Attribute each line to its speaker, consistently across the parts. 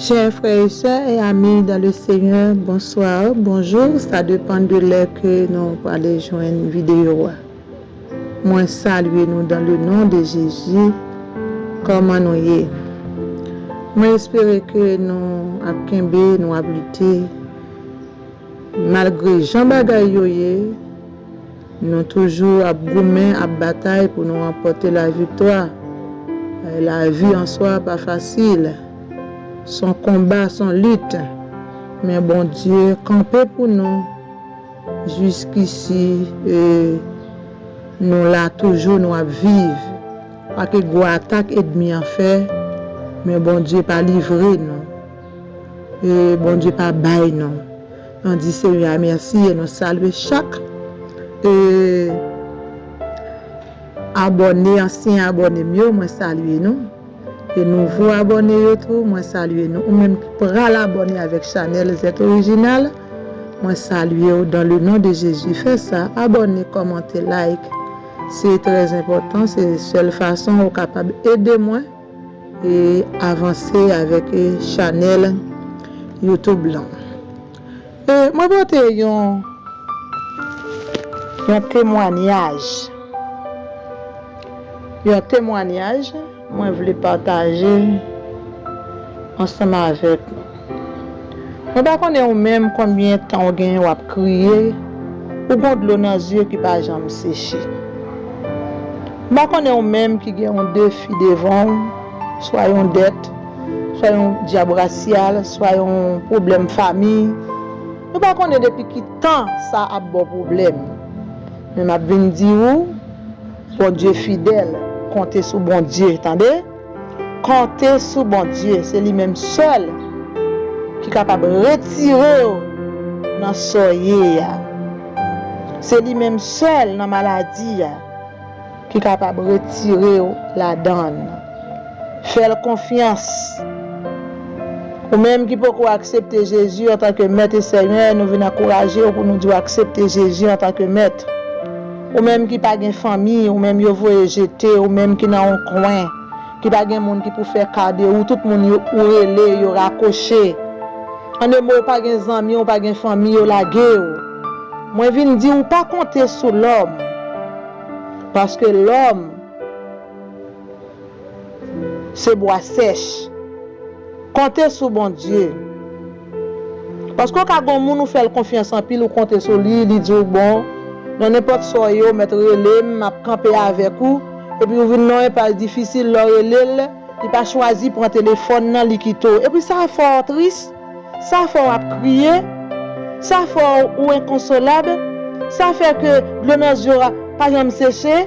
Speaker 1: Chè frè e sè e ami dan le senyè bonsoir bonjou sa depan de lè ke nou prale jwenn video a mwen salye nou dan le non de jezi kòman nou ye mwen espere ke nou ap kenbe nou ap lite malgre jan bagay yo ye. Nou toujou ap goumen, ap batay pou nou ranpòte laviktwa. Lavi an swa pa fasil. Son konba, son lit. Men Bondye kanpe pou nou jiskisi e nou la toujou, nou ap viv. Pa ke gwo atak edmi an fè, men Bondye pa livre nou. E Bondye pa bay nou. Nou di Senyè a mèsi e nou salye chak abòne, ansyen abòne m yo, mwen salye nou. E nouvo abòne yo tou, mwen salye nou. Ou menm ki pral abòne avèk chanèl Zèt Orijinal, mwen salye ou dan le non de Jezi. Fè sa, abòne, kòmante, like. Se trèzenpòtan, se sèl fason ou kapab ede mwen. E avanse avèk chanèl YouTube lan. E mwen pote yon yon temwanyaj. Yon temwanyaj mwen vle pataje ansanm avèk nou. Mwen pa konnen ou menm konbyen tan ou genyen wap kriye, ou gon dlo nan zye ki pa janm seche. Mwen pa konnen ou menm ki gen yon defi devan w, swa yon dèt, swa yon dyab rasyal, swa yon pwoblèm fami, mwen pa konnen depi ki tan sa ap ba w pwoblèm. Men map vin di ou, Bondye fidèl, konte sou Bondye tande. Konte sou Bondye se li menm sèl ki kapab retirew nan sa w ye a se li menm sèl nan maladi a ki kapab retirew ladann fèl konfyans ou menm ki poko aksepte Jezi antanke mèt e senyè nou vin ankourajew pou nou diw aksepte Jezi antanke mèt. Ou menm ki pa gen fanmi, ou menm yo voye jete, ou menm ki nan yon kwen, ki pa gen moun ki pou fè ka de ou, tout moun yo ou rele, yo rakoche. An de mo, ou pa gen zanmi, ou pa gen fanmi, yo lage ou. Mwen vin di ou pa konte sou lòm, paske lòm se bwa sèch. Konte sou Bondye. Paske w ka gen yon moun ou fè l konfyans anpil, ou konte sou li, li di w bon, nan nenpòt sa w ye w mèt rele m, m ap kanpe avèk ou, epi ou vin nan yon enpas difisil, lè w rele l, li pa chwazi pran telefòn nan, li kite w. Epi sa fè w tris, sa fè w ap kriye, sa fè w ou enkonsolab, sa fè ke dlo nan zye w pa janm seche.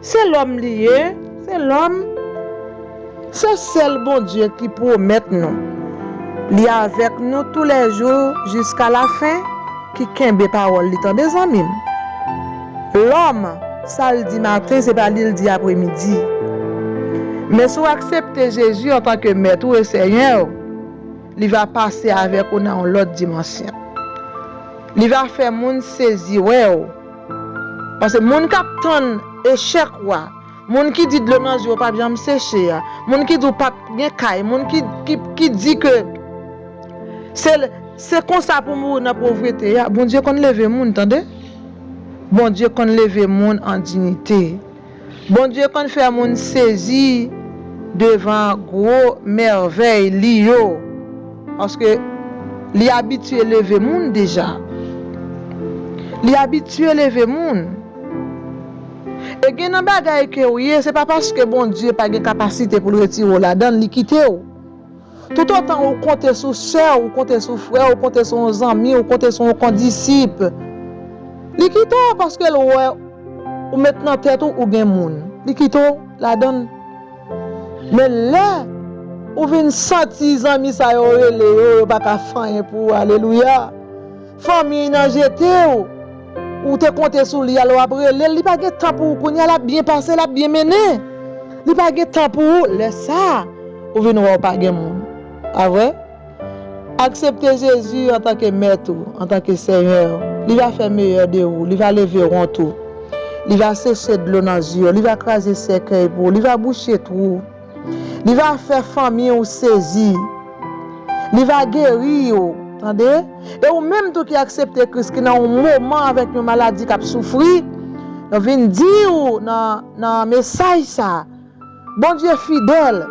Speaker 1: Se lòm li ye, se lòm. Se sèl Bondye ki pwomèt nou li avèk nou tou lè jou jiska la fen ki kenbe pawòl li tande zanmi m. Lòm sa l di maten se pa li l di apre midi. Men si w aksepte Jezi antan ke mèt ou e senyè w, li va pase avèk ou nan yon lòt dimansyon. Li va fè moun sezi wè w Pase moun kap tann echèk ou a, moun ki di dlo nan zye w pap janm seche a, moun ki di w pap gen kay, moun ki di ke se konsa pou mouri nan povrete a, Bondye konn leve moun tande. Bondye konn leve moun an dinite. Bondye konn fè moun sezi devan gwo mèvèy li yo paske li abitye leve moun deja. Li abitye leve moun. E gen nan bagay ke ou ye se pa paske Bondye pa gen kapasite pou l retire w ladan l li kite w. Toutotan ou konte sou sè w, ou konte sou frè w, ou konte sou yon zanmi, ou konte sou yon kondisip, li kite w paske l wè ou met nan tèt ou ou gen moun, li kite w ladan l. Men lè ou vin santi zanmi sa yo rele yo, yo pa ka fè anyen pou ou, alelouya! Fanmiy nan jetew, ou te konte sou li alò wap relel, li pa gen tan pou ou kounya lap byen pase lap byen mennen, li pa gen tan pou ou lè sa ou vin wè ou pa gen moun pa vre? Aksepte Jezi antanke mèt ou, antanke senyè ou, li va fè meyè de ou, li va leve wont ou, li va seche dlo nan zye ou, li va kraze sèkèy pou ou, li va bouche twou. Li va fè fanmi ou sezi. Li va geri ou, tande. E ou menm tou ki aksepte Kris ki nan yon moman avèk yon maladi k'ap soufri, nou vin di ou nan nan mesaj sa, Bondye fidèl.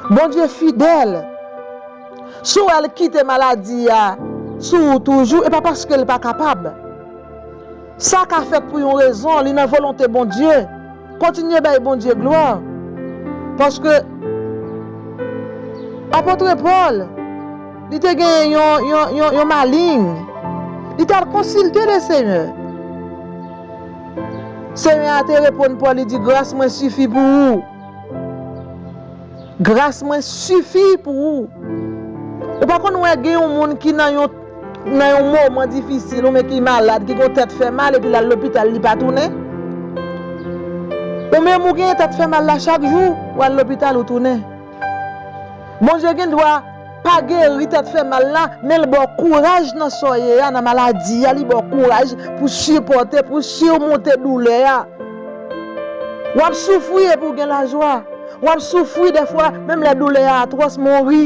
Speaker 1: Bondye fidèl. Si w wè l kite maladi a sou ou toujou, e pa paske l pa kapab. Sa ka fèt pou yon rezon, li nan volonte Bondye. Kontinye bay Bondye glwa. Paske Apôtre Paul, li te genyen yon yon maling. Li t'al konsilte le Senyè. Senyè a te reponn Paul li di gras mwen sifi pou ou. Gras mwen sifi pou ou. Ou pa konn wè gen yon moun ki nan yon. nan yon moman difisil ou men ki malad ki gon tèt fè mal epi lal lopital li pa tounen ou menm ou gen tèt fè mal la chak jou ou al lopital ou tounen Bondye gen dwa pa geri tèt fè mal la men l baw kouraj nan sa w ye a nan maladi a li baw kouraj pou sipòte pou simonte doulè a wap soufri epi w gen lajwa wap soufri dèfwa menm lè doulè a atwòs men w ri.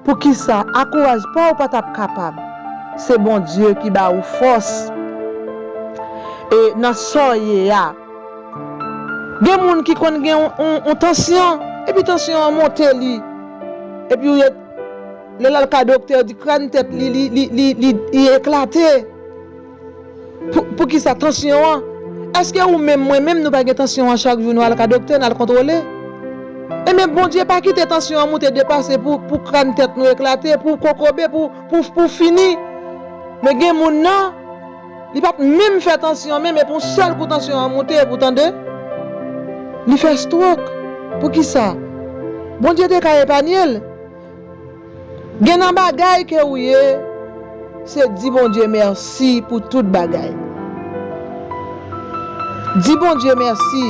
Speaker 1: Poukisa a kouraj paw pa tap kapab se Bondye ki ba ou fòs e nan saw ye a gen moun ki konn gen yon tansyon epi tansyon an monte li epi ou ret lè lal ka doktè yo di kràn tèt li li eklate. Poukisa tansyon an? Eske ou menm mwen menm nou pa gen tansyon an chak jou nou al ka doktè nal kontwole? Enben Bondye pa kite tansyon an moute depase pou kran tèt nou eklate pou kokobe pou fini men gen moun nan li pap menm fè tansyon menm epi yon sèl kou tansyon an moute epi ou tande li fè strok poukisa? Bondye te ka epanyel. Gen nan bagay ke ou ye se di Bondye mèsi pou tout bagay di Bondye mèsi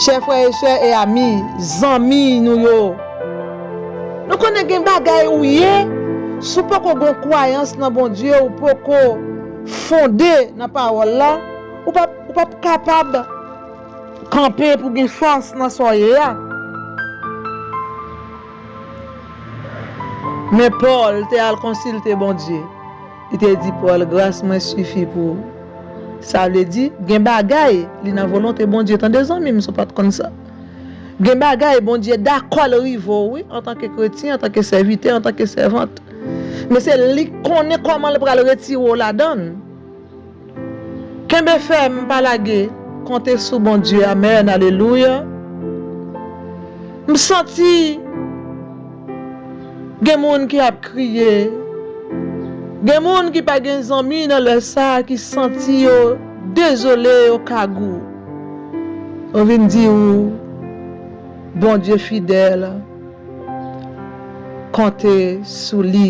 Speaker 1: chè frè e sè e ami zanmi nou yo nou konnen gen bagay ou ye sou poko gon kwayans nan Bondye ou poko fonde nan pawòl la ou pap kapab Kanpe pou gen fòs nan sa w ye a. Men Pòl te al konsilte Bondye. Li te di Pòl, Gras mwen sifi pou ou. Sa vle di, gen bagay li nan volonte Bondye tande zanmi m si w pa t konn sa. Gen bagay Bondye dakò l rive w wi antanke kretyen, antanke sèvitè, antanke sèvant. Men se li k konnen kòman l pral retire w ladan l. Kenbe fèm pa lage konte sou Bondye amen alelouya m santi gen moun ki ap kriye gen moun ki pa gen zanmi nan lè sa ki santi yo dezole yo kagou m vin di ou Bondye fidèl konte sou li.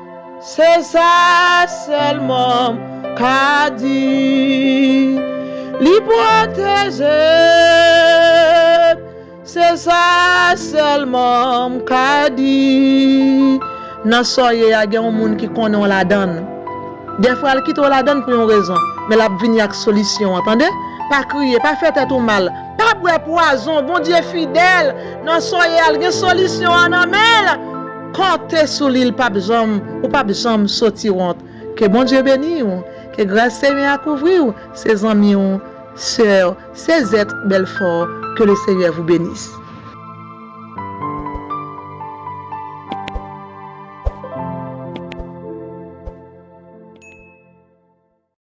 Speaker 1: Se sa sèlman m ka di, Li pwoteje m. Se sa sèlman m ka di. Nan sa w ye a, gen yon moun ki konnen w ladan l. Dèfwa l kite w ladan l pou yon rezon, men l ap vini ak solisyon an, tande. Pa kriye, pa fè tèt ou mal, pa bwè pwazon. Bondye fidèl, nan sa w ye a, l gen solisyon an nan men l. Konte sou li l pap janm ou pap janm soti wont ke Bondye beni w ke gras Senyè a kouvri w se zanmi w soeur Sezette Belfort que le Seigneur vous benisse.